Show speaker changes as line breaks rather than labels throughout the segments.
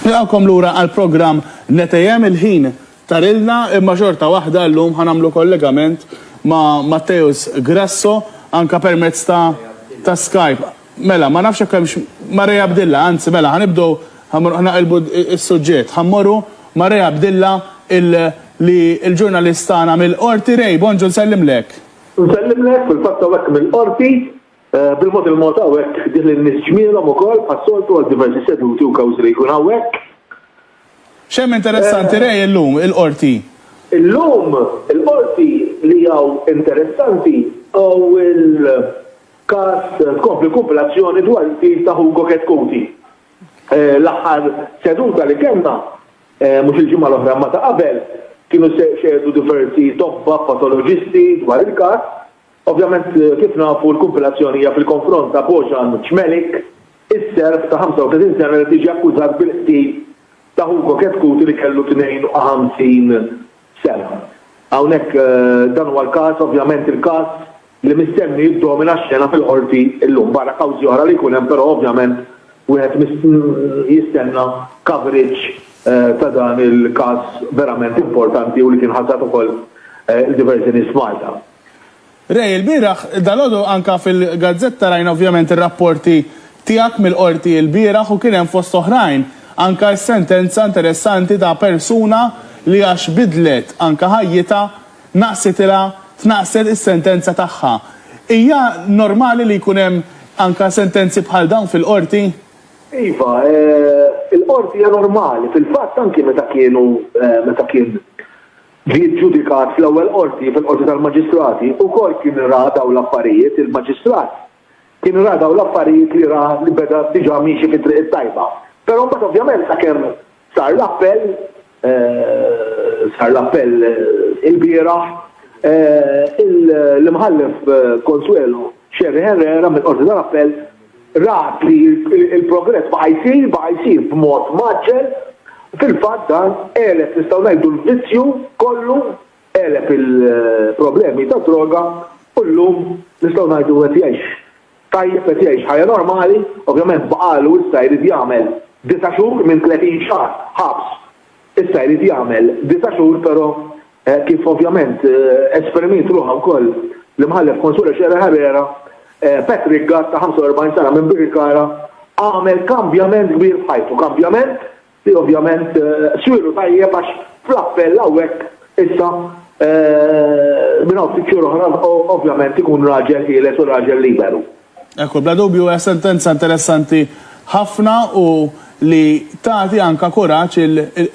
Nilqgħukom lura għall-programm Netejhem, il-ħin tarilna imma xorta waħda llum ħa nagħmlu kollegament ma' Matteus Grasso anke permezz ta' ta' Skype. Mela, ma nafx jekk hemmx ma' Ray Abdilla, anzi mela ħa nibdew ħa mmorru ħa naqilbu s-suġġett. Ħa mmorru ma' Ray Abdilla il li l-ġurnalist tagħna mill-Qorti. Ray, bonġu nsellimlek. Nsellimlek,
fil-fatt hawnhekk mill-Qorti. Bil-mod il-mod hawnhekk ħdih lin-nies ġmielhom ukoll bħas-soltu għal diversi seduti u kawżi li jkun hawnhekk.
X'hemm interessanti Ray illum il-Qorti? Illum
il-Qorti li hawn interessanti hawn il-każ tkompli kumpilazzjoni dwar il-qtil ta' Hugo Chetcuti. L-aħħar seduta li kellna, mhux il-ġimgħa l-oħra imma ta' qabel, kienu xehdu diversi tobba patoloġisti dwar il-każ Ovvjament, kif nafu, l-kumpilazzjoni hija fil-konfront ta' Bojan Cmelik, is-Serb ta' 35 sena li qed jiġi akkużat bil-qtil ta' Hugo Chetcuti li kellu 52 sena. Hawnhekk dan huwa l-każ, ovvjament il-każ li mistenni jiddomina x-xena fil-Qorti llum, barra kawżi oħra li jkun hemm però ovvjament wieħed jistenna coverage ta' dan il-każ verament importanti u li kien ħasad ukoll lil diversi nies f'Malta. Ray,
ilbieraħ, dalgħodu anke fil-gazzetta rajna ovvjament ir-rapporti tiegħek mill-Qorti ilbieraħ u kien hemm fost oħrajn anke s-sentenza interessanti ta' persuna li għax bidlet anke ħajjitha naqsitilha tnaqqset is-sentenza tagħha. Hija normali li jkun hemm anke sentenzi bħal dawn fil-Qorti? Iva,
il-Qorti hija normali. Fil-fatt anke meta kienu meta kien Ġie ġġudikat fl-Ewwel Qorti, fil-Qorti tal-Maġistrati, ukoll kien ra dawn l-affarijiet, il-Maġistrat kien ra dawn l-affarijiet li ra li beda diġà miexi fit-triq it-tajba. Però mbagħad ovvjament sakemm sar l-appell, sar l-appell ilbieraħ, l-Imħallef Consuelo Scerri Herrera mill-Qorti tal-Appell rat li l-progress baqa' jsir, baqa' jsir b'mod mgħaġġel, fil-fatt dan għeleb, nistgħu ngħidu, l-vizzju kollu, għeleb il-problemi tad-droga u llum nistgħu ngħidu qed jgħix tajjeb, qed jgħix ħajja normali, ovvjament baqagħlu issa jrid jagħmel disa' xhur minn tletin xahar ħabs. Issa jrid jagħmel disa' xhur però kif ovvjament esprimiet ruħha wkoll l-Imħallef Consuelo Scerra Herrera, Patrick Gatt ta' 45 sena minn Birkirkara għamel kambjament kbir f'ħajtu. Kambjament li ovvjament swielu tajjeb għax fl-appell hawnhekk issa minn hawn ftit xhur oħra ovvjament ikun raġel ħieles u raġel liberu. Ekku, bla dubju
hija sentenza interessanti ħafna u li tagħti anka kuraġġ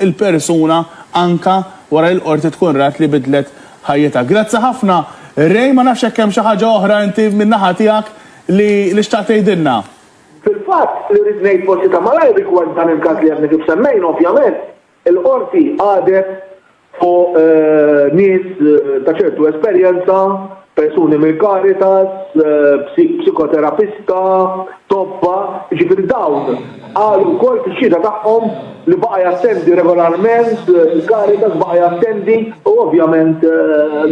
il-persuna anka wara li l-Qorti tkun rat li bidlet ħajjitha. Grazzi ħafna Ray, ma nafx jekk hemm xi ħaġa oħra inti min-naħa tiegħek li li xtaqt tgħidilna. Fil-fatt,
li rrid ngħid forsi ta' malajr rigward dan il-każ li għadna kif semmejna, ovvjament, il-Qorti qadet fuq nies ta' ċertu esperjenza, persuni mill-Caritas, psikoterapista, tobba, jiġifieri dawn qalu wkoll fix-xhieda tagħhom li baqa' jattendi regolarment il-Caritas, baqa' jattendi u ovvjament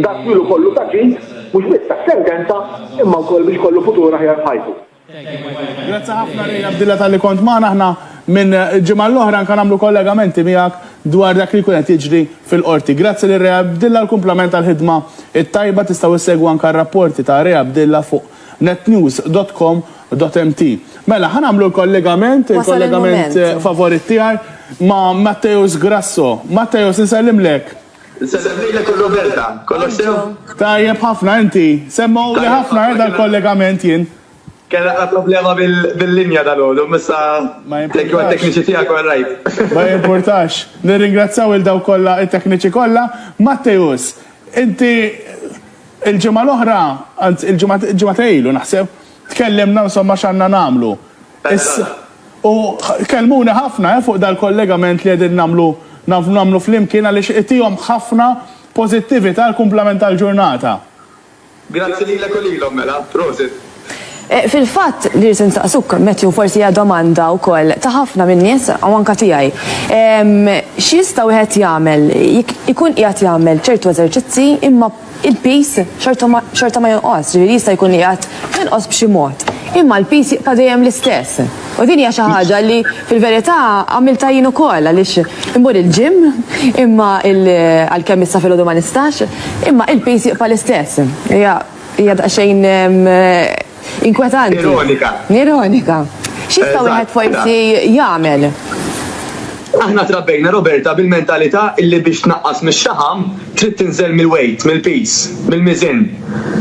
dat twilu kollu ta' ġid mhux biss tas-sentenza imma wkoll biex kollu futur aħjar f'ħajtu. Grazzi
ħafna Ray Abdilla talli kont magħna. Aħna minn ġimgħa l-oħra anke nagħmlu kollegamenti miegħek dwar dak li jkun qed jiġri fil-Qorti. Grazzi lil Ray Abdilla u kumplament għall-ħidma t-tajba. Tistgħu issegwu anke r-rapporti ta' Ray Abdilla fuq netnews dot com dot mt. Mela, ħa nagħmlu l-kollegament, il-kollegament favorit tiegħi ma' Matteus Grasso. Matteus, insellimlek. Insellem lilek
u Roberta. Kollox sew? Tajjeb ħafna, inti?
Semmgħuli ħafna eh dal-kollegament jien. Kellna ta' problema
bil-linja dalgħodu, imma issa thank you għat-tekniċi tiegħek u għar-raid. Ma jimpurtax.
Nirringrazzjaw lil dawk kollha, it-tekniċi kollha. Matteus, inti l-ġimgħa l-oħra, anzi l-ġimgħa ta' ilu naħseb, tkellimna insomma x'għandna nagħmlu. Issa, u kellmuni ħafna fuq dal-kollegament li qegħdin nagħmlu nagħmlu flimkien għaliex itihom ħafna pożittività għall-kumplament tal-ġurnata. Grazzi
lilek u lilhom mela. Prosit. Fil-fatt,
li rrid insaqsuk, Matthew, forsi hija domanda wkoll ta' ħafna min-nies u anke tiegħi. X'jista' wieħed jagħmel jekk ikun qiegħed jagħmel ċertu eżerċizzi imma il-piż xorta ma jonqos, ġifieri jista' jkun li għad jonqos b'xi mod, imma l-piż jibqa' dejjem l-istess. U din hija xi ħaġa li fil-verità għamilta jien ukoll għaliex immur il-ġim imma għalkemm issa filgħodu ma nistax, imma il-piż jibqa' l-istess. Hija hija daqsxejn Inkwetanti. Ironika. Ironika. X'jista' wieħed forsi jagħmel?
Aħna trabbejna Roberta bil-mentalità illi biex tnaqqas mix-xaħam trid tinżel mill-weight, mill-piż, mill-miżien.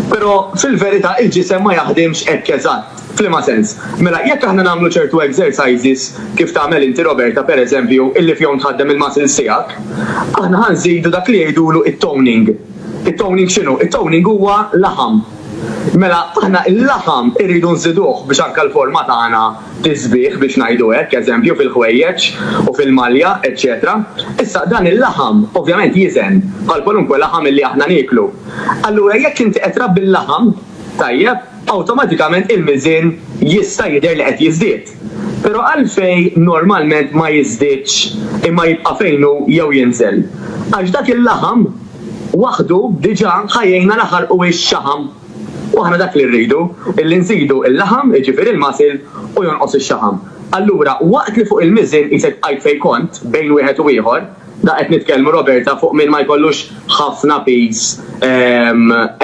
Però fil-verità il-ġisem ma jaħdimx hekk eżatt. F'liema sens? Mela jekk aħna nagħmlu ċertu exercises, kif tagħmel inti Roberta pereżempju, illi fihom tħaddem il-muscles tiegħek, aħna ħa nżidu dak li jgħidulu t-toning. It-toning x'inhu? It-toning huwa laħam. Mela aħna il-laħam irridu nżiduh biex anke l-forma tagħna tiżbieh biex ngħidu hekk, eżempju fil-ħwejjeġ u fil-malja, eċċetera Issa dan il-laħam ovvjament jiżen bħal kwalunkwe laħam illi aħna nieklu. Allura jekk inti qed trabbi l-laħam tajjeb, awtomatikament il-miżien jista' jidher li qed jiżdied. Pero' għalfejn normalment ma jiżdiedx imma jibqa' fejn hu jew jinżel? Għax dak il-laħam waħdu diġa' ħa jgħinna naħarqu ix-xaħam. U aħna dak li rridu, illi nżidu il-laħam, jiġifieri l-muscle, u jonqos ix-xaħam. Allura, waqt li fuq il-miżien qisek bqajt fejn kont, bejn wieħed u ieħor, da qed nitkellmu Roberta fuq min ma jkollux ħafna piż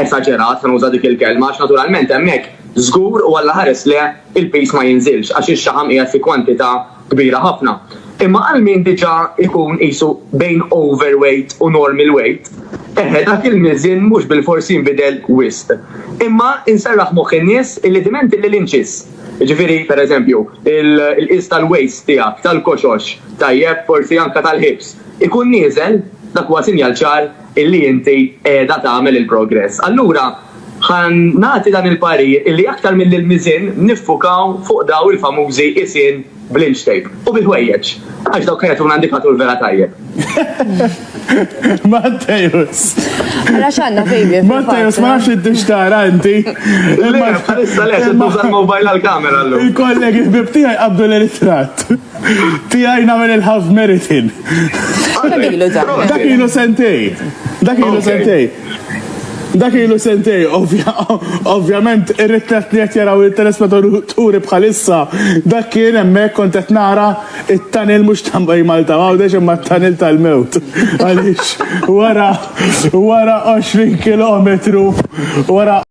esaġerat, ħa nuża dik il-kelma, għax naturalment hemmhekk żgur u Alla ħares le il-piż ma jinżilx għax ix-xaħam qiegħed fi kwantità kbira ħafna. Imma għal min diġà jkun qisu bejn overweight u normal weight, eħe dak il-miżien mhux bilfors jinbidel wisq. Imma inserraħ moħħ in-nies illi diment illi l-inċis, jiġifieri pereżempju l-qies tal-waist tiegħek, tal-koxox, tajjeb, forsi anke tal-hips, ikun nieżel, dak huwa sinjal ċar illi inti qiegħda tagħmel il-progress. Allura ħa nagħti dan il-parir illi aktar milli l-miżien niffukaw fuq daw il-famużi qisien bl-inch tape u bil-ħwejjeġ għax dawk jagħtuna indikatur vera tajjeb.
Mattejus! Ara x'għandna
fejli. Mattejus ma nafx inti
x'tara inti. Le, bħalissa
le, se tuża l-mobile għall-kamera llum. Il-kollegi ħbib tiegħi
qabdu l-eritratt. Tijaj namel il-half meritin. Dak ilu sentej. Dak ilu sentej. Dak ilu sentej, ovvjament, ir-ritrat li qed jaraw il-telespettaturi bħalissa, dak kien hemmhekk kont qed nara it-tunnel mhux ta' Malta Għawdex imma t-tunnel tal-mewt. Għaliex wara wara 20 kilometru wara